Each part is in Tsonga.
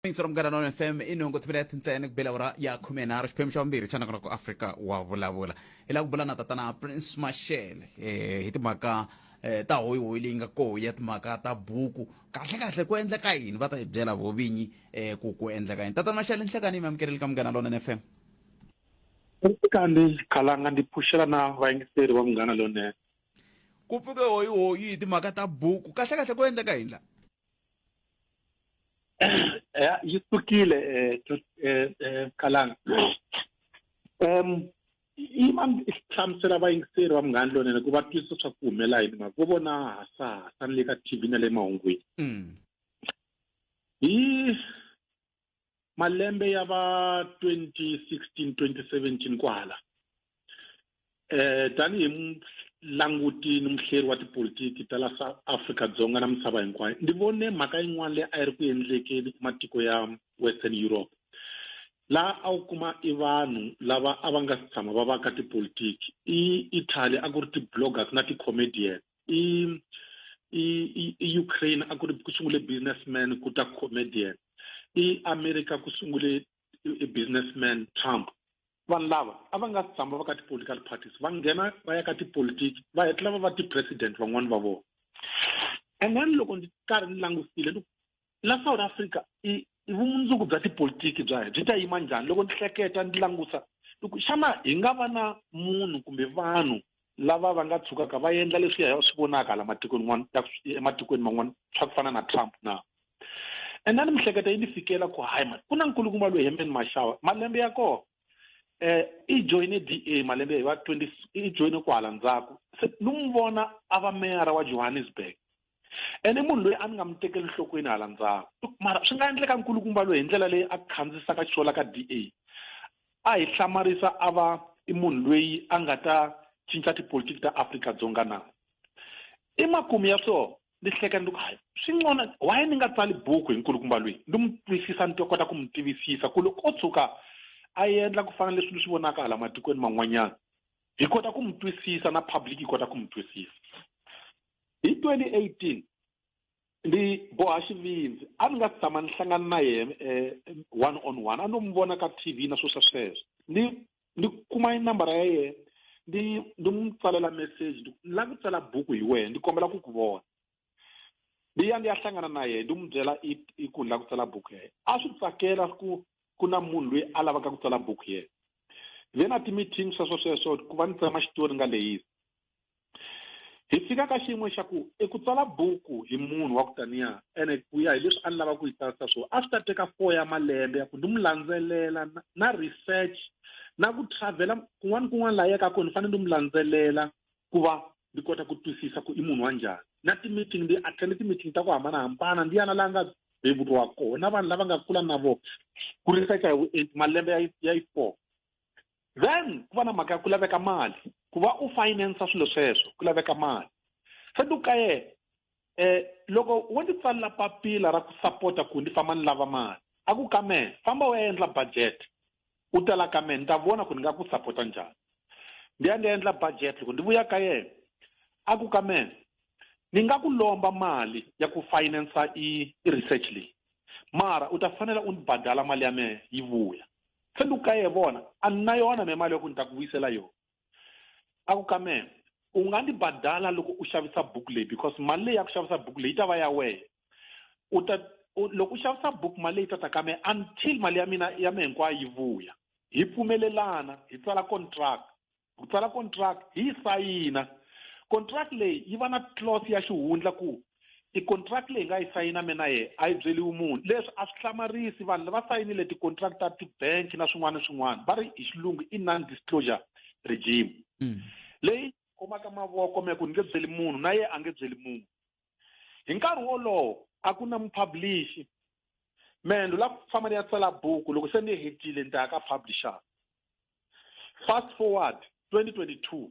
intswa munghana nona fm i nhungu timinete tintsene ku bela ura ya khume nharhu xiphemu xa vumbirhi xa nakona ku afrika wa vulavula hi la ku bula na tatana prince mashele um hi timhaka um ta hoyihoyi leyi nga koho ya timhaka ta buku kahle kahle ku endleka yini va ta hi byela vo vinyi um ku ku endleka yini tatana mashele nhlekani yi mi amukeleli ka munghana lona n fm kandi khalanga ndi pfuxela na vayingiseri va munghana lonene ku pfuke hoyihoyi hi timhaka ta buku kahle kahle ku endleka yini la ya yi sukile eh, to- eh, eh, Khalanga um ima hlamusela vayingiseri va munghani lonene ku va twisisa swa ku humela yini mhaka vo vona hasahasa ni le ka tv na le mahungwini Mm. hi malembe ya va 2016 2017 kwahala eh tanihi languti ni muhleri wa tipolitiki ta la south africa dzonga na misava hinkwayo ndi vone mhaka yin'wana leyi a yi ri ku endlekeni matiko ya western europe laha a wu kuma i vanhu lava a va nga si tshama va va ka tipolitiki i italy a ku ri ti-bloggers na ti-comedians i i i Ukraine a ku ri ku sungule businessman ku ta comedian i America ku sungule businessman Trump vanhu lava a va nga tshama va ka ti-political parties va nghena va ya ka tipolitiki va hetlela va va ti-president van'wani va vona and then loko ndzi karhi ni langusile ni la south africa i i vumundzuku bya tipolitiki bya hina byi ta yima njhani loko ndzi hleketa ndzi langusa loko xana hi nga va na munhu kumbe vanhu lava va nga tshukaka va endla leswi ya swi vonaka la matikweni n'wana ematikweni man'wana swa ku fana na trump na and a ni mihleketa yi ni fikela ku hayi mani ku na nkulukumba loyi hemben maxawa malembe ya kona eh i joine DA malembe hi va 20 i joine kwala ndzhaku se lu n'wi vona a va meyara wa Johannesburg ene munhu loyi a ni nga mi tekeli nhlokweni hala ndzhaku mara swi nga endleka nkulukumba loyi hi ndlela leyi a khandzisaka xola ka d a a hi hlamarisa a va i munhu loyi a nga ta cinca tipolitiki ta afrika dzonga na i makumu ya swona ni hleka ni ku hayi swi nqona waye ni nga tsali buku hi nkulukumba loyi ni mu twisisa ni to kota ku mu tivisisa ku loko o tshuka a endla ku fana leswi ni swi vonaka hala matikweni man'wanyana hi kota ku mu twisisa na public yi kota ku mu twisisa hi 2018 ndzi boha xivindzi a ni nga si tshama ni hlangana na yena um one on one a no n'wi vona ka t v na swo swa sweswo ni ni kuma inambara ya yena ni ni n'wi tsalela message ni lava ku tsala buku hi wena ni kombela ku ku vona ni ya ni ya hlangana na yena ni n'wi byela i i ku ni lava ku tsala buku ya yena a swi tsakela ku ku na munhu loyi a lavaka ku tsala buku yena then a ti-meeting sweswo sweswo ku va ni tsema xitori nga leyisi hi fika ka xiyimo xa ku i ku tsala buku hi munhu wa ku taniya ene ku ya hi leswi a ni lava ku yi tsarisa swona a swi ta teka four ya malembe ya ku ni mu landzelela na research na ku travhela kun'wana ni kun'wana laha yaka kona ni fanele ni mu landzelela ku va ni kota ku twisisa ku i munhu wa njhani na ti-meeting ndi attende ti-meeting ta ku hambanahambana ndi yana laha nga beburiwa kona na vanhu lava nga kula na vona ku researcha hi vuenti malembe ya yi four then ku va na mhaka ya ku laveka mali ku va u finance swilo sweswo ku laveka mali se ni ka yena eh loko wo ndzi tsalela papila ra ku sapota ku ndzi famba ni lava mali a ku ka mehe famba u ya endla budget u tala ka mehe ni ta vona ku ni nga ku sapota njhani ndi ya ndi ya endla budget loko ndi vuya ka yena a ku ka mehe ni nga ku lomba mali ya ku finansa i i research leyi mara u ta fanela u ni badala mali ya mehe yi vuya se lu ka ye vona a ni na yona me mali ya ku ni ta ku vuyisela yona a ku ka meme u nga ni badala loko u xavisa buku leyi because mali leyi ya ku xavisa buku leyi yi ta va ya wehe u ta loko u xavisa buku mali leyi ta ta ka me until mali ya mina ya me hinkwayo yi vuya hi pfumelelana hi tsala contract ku tsala contract hi yi sayina contract leyi yi va na clause ya xihundla ku i contract leyi nga yi sayina mina ye a yi byeliwi munhu leswi a swi hlamarisi vanhu lava sayinile ti-contract ta ti-bank na swin'wana na swin'wana va ri hi xilungu i non-disclosure regime mm. leyi komaka mavoko me ku ni nge byeli munhu na ye a nge byeli munhu hi nkarhi wolowo a ku na mupublishi mendo la ku famba ni ya tsala buku loko se ni hetile ni ta ya ka publisher fast forward 2022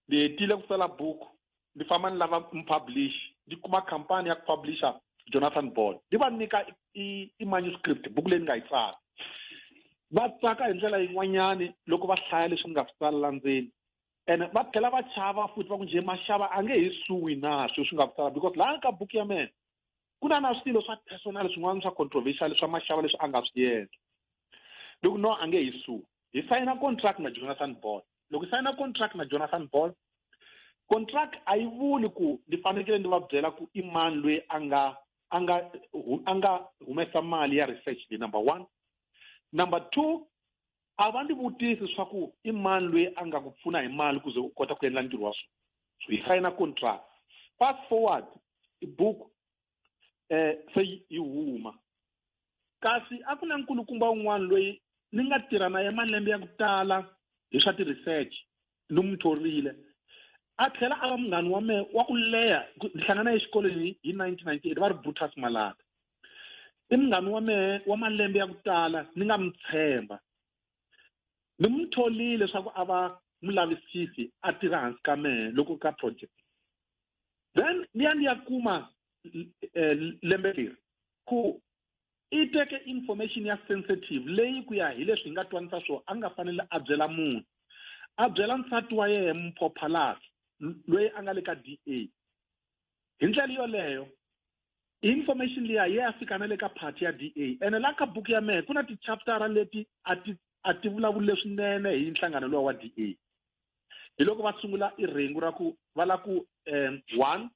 ni hetile ku tsala buku ni famba ni lava mupublish ni kuma khampani ya ku publisher jonathan ball ni va nyika i-manuscript buku leyi ni nga yi tsala va tsaka hi ndlela yin'wanyani loko va hlaya leswi ni nga swi tsalela ndzeni ene va tlhela va chava futhi va ku njhe maxava a nge he suwi na swilo swi nga ku tsala because laha ka buku ya mina ku na na swilo swa personal swin'wana swa controversial swa maxava leswi a nga swi yendla loko no a nge hi su hi sayina contract na jonathan ball loko hi sayina contract na jonathan ball contract a yi vuli ku ni fanekele ni va byela ku i mani loyi a nga a nga a nga humesa mali ya research leyi number one number two a va ndzi vutisi leswaku i mani loyi a nga ku pfuna hi mali ku ze u kota ku endla ntirho wa swona so yi sayina contract fast forward tibuku um se yi huma kasi a ku na nkulukumba un'wana loyi ni nga tirha na ye malembe ya ku tala hi swa ti-research ni n'wi thorile a tlhela a va munghani wa mehe wa ku leha ni hlangana exikolweni hi 1998 va ri brutus malata i munghani wa mehe wa malembe ya ku tala ni nga mi tshemba ni n'wi tholile leswaku a va mulavisisi a tirha hansi ka mehe loko ka project then ni ya ni ya kuma eh, lembe leri ku i teke information ya sensitive leyi ku ya hi leswi hi nga twanisa swona a nga fanele a byela munhu a byela nsati wa yena muphophalazi loyi a nga le ka da hi ndlela yoleyo information liya ye ya fika na le ka party ya da ene la ka buku ya mehe ku na tichaptara leti a ti a ti vulavuli leswinene hi nhlangano lowa wa da hi loko va sungula i rhengu ra ku va la ku um one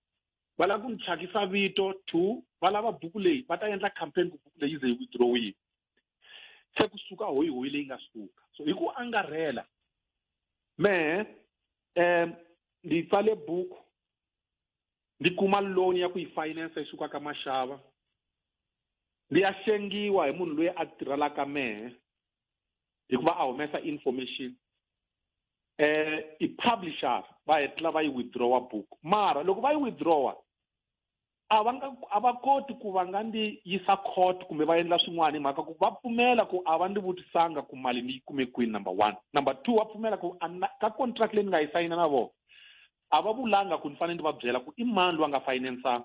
va lava ku ni thyakisa vito two va lava buku leyi va ta endla campaign ku buku leyi ze yi withdrowiwa se ku suka hoyi hoyi leyi nga suka so hi ku angarhela mehe um ndzi tsale buku ndzi kuma loan ya ku yi finance yi suka ka maxava ndzi ya hlengiwa hi munhu loyi a tirhelaka mehe hikuva a humesa information eh i publisher va hetla va yi withdrawa book mara loko va yi withdrawa a va nga a va koti ku va nga ndi yisa court kumbe va endla swin'wana hi mhaka ku va pfumela ku a va ndi vutisanga ku mali ni yi kume kwini number one number two va pfumela ku ka contract leyi ni nga yi sayina na vona a va vulanga ku ni fanele ni va byela ku i mani loyi a nga finance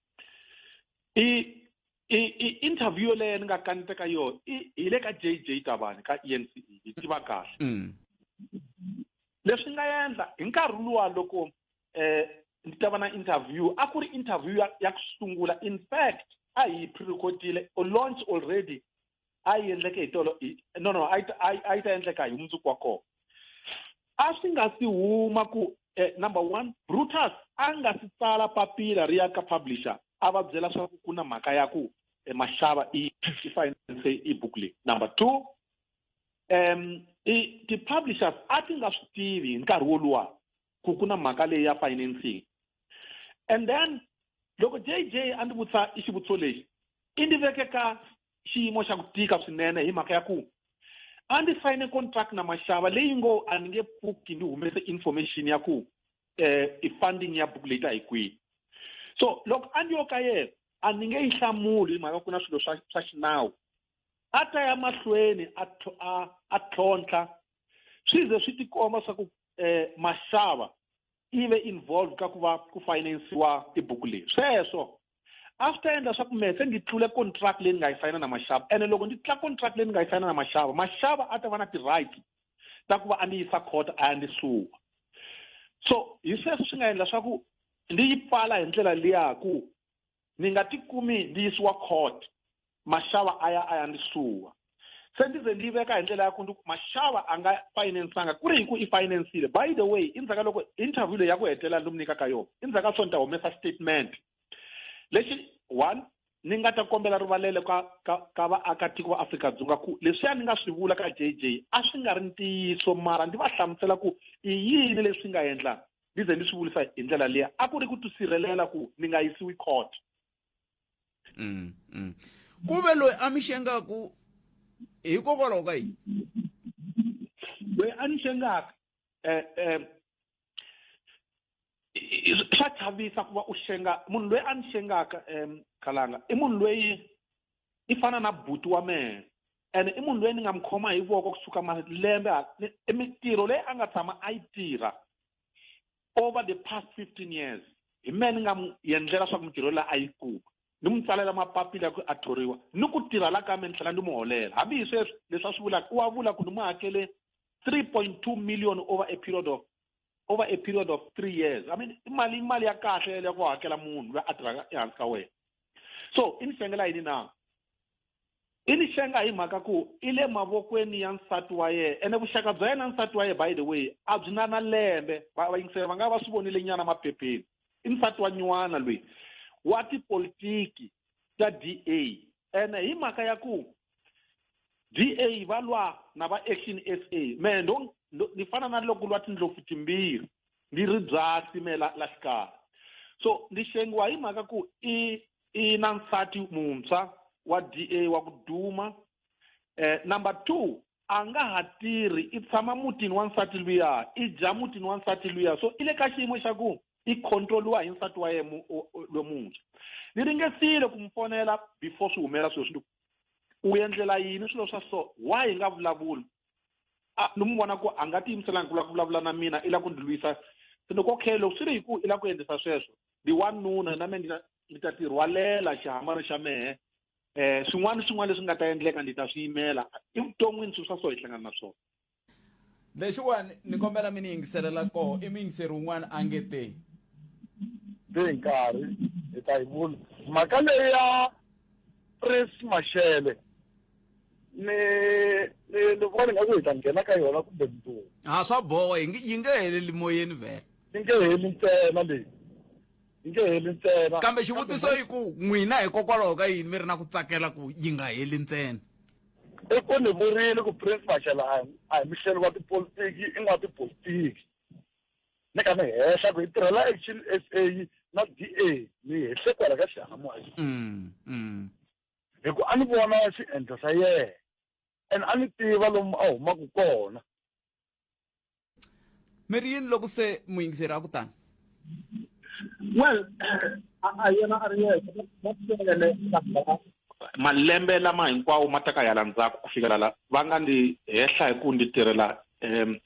i i i interview yoleyo ni nga kanete ka yona hi le ka j j tabani ka e n c e hi tiva kahle mm. leswi nga endla hi nkarhi luwa loko um ndzi ta va na interview a ku ri interview ya ya ku sungula in fact a hi pre-recordile or launch already a yi endleke hi tolo hi- no no a yi ta- a yi- a yi ta endleka hi mundzuku wa kona a swi nga si huma ku eh, number one brutus a nga si tsala papila ri ya ka publisher a va byela swa ku ku na mhaka ya ku eh, maxava i i finance i book leyi number two um i ti-publishers a ti nga swi tivi hi nkarhi woluwa ku ku na mhaka leyi ya financing and then loko jj a ndzi vutisa i xivutiso lexi i ndzi veke ka xiyimo xa ku tika swinene hi mhaka ya ku a ndzi sayine contract na maxava leyi ngo a ni nge pfuki ni humese information ya ku eh i funding ya book leta hi kwihi so loko a ni yo ka yena a ni nge yi hlamuli hi mhaka ku na swilo swa swa xinawu a ta ya mahlweni a a a tlhontlha swi ze swi tikomba swa ku eh maxava yi ve involved ka ku va ku finansiwa tibuku leyi sweswo after endla swa ku mehe se ndzi tlule contract leyi ni nga yi sayina na maxava ene loko ndzi tlula contract leyi ni nga yi sayina na maxava maxava a ta va na ti-right ta ku va a ndzi yisa court a ya ndzi suwa so hi sweswo swi nga endla swa ku ndzi yi pfala hi ndlela liya ku ni nga ti kumi ndi yisiwa court maxava a ya a ya ndzi suwa se ndzi ze ndzi veka hi ndlela ya ku ndi ku maxava a nga finansanga ku ri hi ku i finansile by the way i ndzhaka loko interview leyi ya ku hetelela ndzi mu nyika ka yona i ndzhaka so ni ta humesa statement lexi one ni nga ta kombela rivalelo ka ka ka vaakatiko va Afrika-Dzonga ku leswiya ni nga swi vula ka JJ a swi nga ri ntiyiso mara ndzi va hlamusela ku i yini leswi nga endla ni ze ni swi vulisa hi ndlela liya a ku ri ku tisirhelela ku ni nga yisiwi court mm, mm. ku ve loyi a mi xengaku hikokwalaho ka yini loyi a ni xengaka um um swa chavisa ku va u xenga munhu loyi a ni xengaka um khalanga i munhu loyi i fana na buti wa mehe ene i munhu loyi ni nga mi khoma hi voko kusuka malembe i mintirho leyi a nga tshama a yi tirha over the past fifteen years hi mehe ni nga mu yendlela swa ku mintirho leyi a yi kuma ni mu tsalela mapapila ya ku a thoriwa ni ku tirha la ka me ni tlhela ni mu holela hambi hi sweswi leswi a swi vulaka u wa vula ku ni mu hakele three point two million over a period of over a period of three years i mean imali imali ya kahle yeleyo ku hakela munhu loyi a tirhaka ehansi ka wena so i ni xengela yini na i ni xenga hi mhaka ku i le mavokweni ya nsati wa yena ene vuxaka bya yena nsati wa yena by the way a byi na na lembe vayingiseri va nga va swi vonile nyana maphepheni i nsati wa nyuwana loyi wa tipolitiki ta d a ene hi mhaka ya ku DA va lwa na va Action SA me ndo ni fana na loko lwa tindlopfu timbirhi ni ri byasi me la la xikarhi so ni xengiwa hi mhaka ku i i na nsati muntshwa wa DA wa ku duma eh number 2 a nga ha tirhi i tshama mutini wa nsati luya i dya mutini wa nsati luya so i le ka xiyimo xa ku i controliwa hi nsati wa yena lomuntshwa ni ringesile ku n'wi fonela before swi humelela swilo swi u endlela yini swilo swa so why hi nga vulavuli ni n'wi vona ku a nga tiyimiselanga ku lava ku vulavula na mina i lava ku ndzi lwisa se loko okay loko swi ri hi ku i lava ku endlisa sweswo ndi wanuna na mina ni ta tirhwalela xihamari xa mehe eh swin'wana swin'wana leswi nga ta endleka ndzi ta swi yimela i vuton'wini swilo swa so hi hlangana na swona lexiwani ni kombela mi ni yingiselela koho i muyingiseri wun'wana a nge te hi nkarhi hi ta yi vula mhaka leyi ya pres maxele ni ni ni vona ni nga ku hi ta nghena ka yona kumbe mundzuku ha swa boha yi nge heleli moyeni vhele yi nge heli ntsena leyi yi nge heli ntsena kambe xivutiso i ku n'wina hikokwalaho ka yini mi ri na ku tsakela ku yi nga heli ntsena i ku ni vurile ku prince maxela a a hi muhlelo wa tipolitiki i n'wa tipolitiki ni ka ni hehla ku hi tirhela action s a na d a ni hehle kwala ka xihahamoya mm, mm. hi ku a ni vona xiendlo xa yena and a ni tiva lomu a humaka kona mi ri yini loko se muyingiseri a ku tani well a yena a ri yexe malembe lama hinkwawo ma ta ka yala ndzhaku ku fikela la va nga ndzi hehla hi ku ndzi tirhela um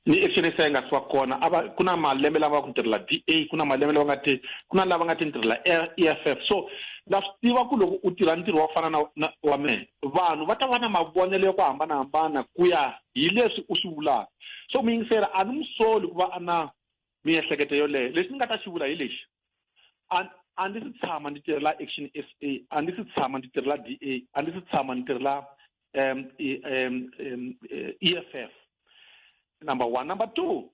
ni exenesa yi nga si va kona a va ku na malembe lama va ku tirhela d a ku na malembe lava nga ti ku na lava nga ti ni tirhela e f f so na swi tiva ku loko u tirha ntirho wa ku fana na wa mehe vanhu va ta va na mavonelo ya ku hambanahambana ku ya hi leswi u swi vulaka so muyingiseri a ni n'wi soli ku va a na miehleketo yoleyo lexi ni nga ta xi vula hi lexi a ndzi si tshama ndzi tirhela action s a a ndzi si tshama ndzi tirhela d a a ndzi si tshama ndzi tirhela um e f f number one number two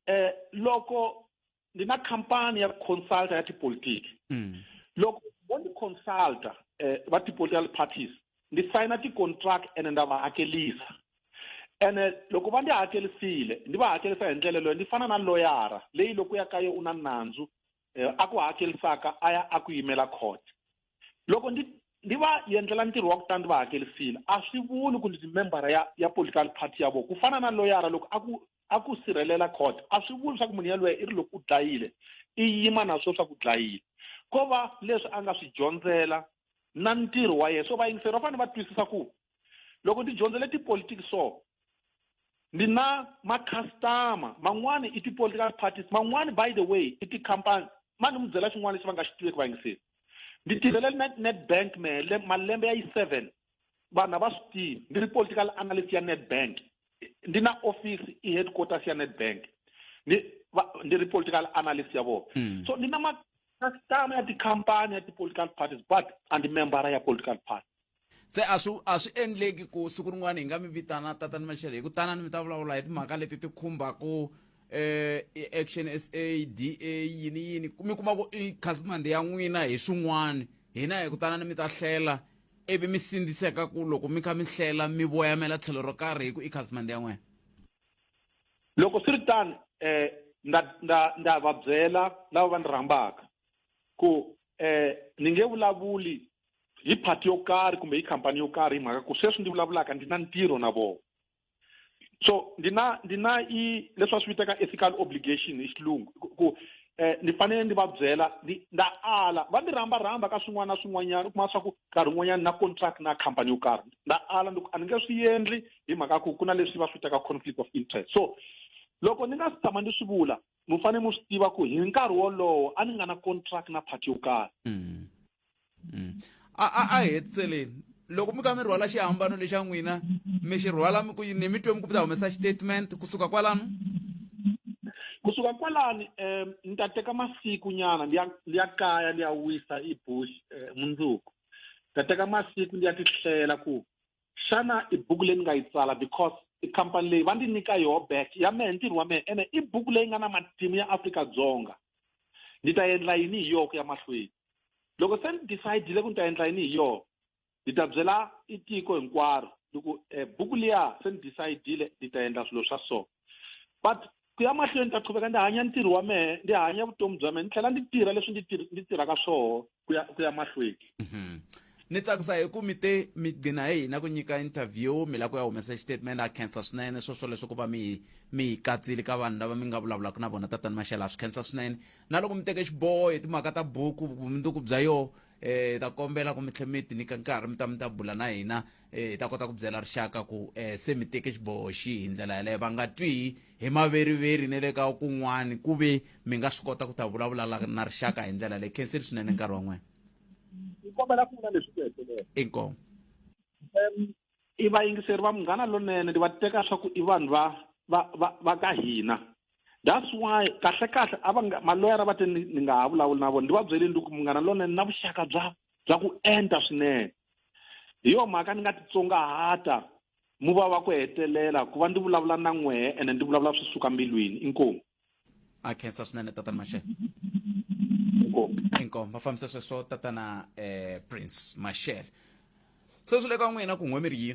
um loko ni na khampani ya consulta ya tipolitiki mm. loko vo ni consulta eh, va ti-political parties ni sayina ti-contract ene nda va hakelisa ene loko va ndzi hakelisile ndzi va hakelisa hi ndlela leyo ndzi fana na loyara leyi loko ya ka ye u na nandzu eh, a ku hakelisaka a ya a ku yimela court loko ndzi ndzi va endlela ntirho wa ku tani ndzi va hakelisile a swi vuli ku ndzi membara ya ya political party ya vona ku fana na loyara loko a ku a ku sirhelela court a swi vuli leswaku munhu yaloye i ri loko u dlayile i yima na swo swa ku dlayile ko va leswi a nga swi dyondzela na ntirho wa yena so vayingiseri va fanele va twisisa ku loko ni dyondzele tipolitiki so ni na makhastama man'wani i ti-political parties man'wani by the way i tikhampani ma ni mi byela xin'wana lexi va nga xi tiveki vayingiseri ni tirhele netbank mele malembe ya yi seven vanhu a va swi tivi ni ri political analyst ya netbank ndi na office i headquarters ya Nedbank ni va, ndi ri political analyst ya vona Mm. so ndi na ma customer ya tikhampani ya ti-political parties but a ndi membara ya political party se a swi a swi endleki ku siku rin'wana hi nga mi vitana tatani maxele hi ku tanani mi ta vulavula hi timhaka leti ti khumbaku eh i action sa da yini yini mi kuma ku i khasimande ya n'wina hi swin'wana hina hi ku tanani mi ta hlela ivi mi sindziseka ku loko mi kha mi hlela mi voyamela tlhelo ro karhi hi ku i khasimende ya n'wina loko swi ri tani um eh, nda nda nda va byela lava va ni rhambaka ku um ni nge vulavuli hi party yo karhi kumbe hi khampani yo karhi hi mhaka ku sweswi ndzi vulavulaka ndzi na ntirho na vona so ndi na ndi na i leswi va swi vitaka ethical obligation hi xilungu ku- ku eh ni fanele ni va byela ni nda ala va ni rhamba rhamba ka swin'wana na swin'wanyana u kuma swa ku nkarhi wun'wanyana na contract na company yo karhi nda ala ni ku a ni nge swi endli hi mhaka ku ku na leswi va swi vitaka conflict of interest so loko ni nga si tshama ni swi vula mi fanele mi swi tiva ku hi nkarhi wolowo a ni nga na contract na party yo karhi Mm. mm. a a a hetseleni loko mi ka mi rhwala xihambano lexa n'wina mi xi rhwala mi ku ni mi twe mi ku mi ta humesa xitatement kusuka kwalano kusuka kwalani um ni ta teka masiku nyana ndi ya ndi ya kaya ndi ya wisa i bush um mundzuku ni ta teka masiku ndi ya tihlela ku xana i buku leyi ni nga yi tsala because i khampani leyi va ndzi nyika yoho back ya mehe ntirho wa mehe ene i buku leyi nga na matimu ya afrika-dzonga ndzi ta endla yini hi yoho ku ya mahlweni loko se ni decidile ku ni ta endla yini hi yoho ndzi ta byela i tiko hinkwaro loko um eh, buku liya se ni decidile ndzi ta endla swilo swa so but ku ya mahlweni ni ta qhuveka ndzi hanya ntirho wa mehe ndzi hanya vutomi bya mehe ni tlhela ndzi tirha leswi ndzi tirhaka swoho ku ya ku ya mahlweni mhm. ni tsakisa hi ku mi te mi gcina hi hina ku nyika interview mi la ku ya humesa xitatimende a khensa swinene swo swo leswi ku va mi mi hi katsile ka vanhu lava mi nga vulavulaka na vona tatani maxela a swi khensa swinene na loko mi teke xiboho hi timhaka ta buku vumundzuku bya yoho um ta kombela ku mi tlhe mi ti nyika nkarhi mi ta mi ta bula na hina eh, hi ta kota ku byela rixaka ku um se mi teke xiboho xi hi ndlela yaleyo va nga twi hi maveriveri ni le ka kun'wani ku ve mi nga swi kota ku ta vulavula na rixaka hi ndlela leyi khenseli swinene nkarhi wa n'wina kombela ku vula leswi ku hetelela inkomu um i vayingiseri va munghana lonene ndi va teka swa ku i vanhu va va va va ka hina that's why kahle kahle a va nga maloyara va te ni nga ha vulavuli na vona ndi va byeleni ndi ku munghana lonene na vuxaka bya bya ku enta swinene hi yo mhaka ni nga titsongahata mu va wa ku hetelela ku va ndzi vulavula na n'wehe ene ndzi vulavula swi suka mbilwini inkomu a khensa swinene tatana maxele inkomu va fambisa sweswo tatana um prince maxele sweswi le ka n'wina ku n'we mi ri yini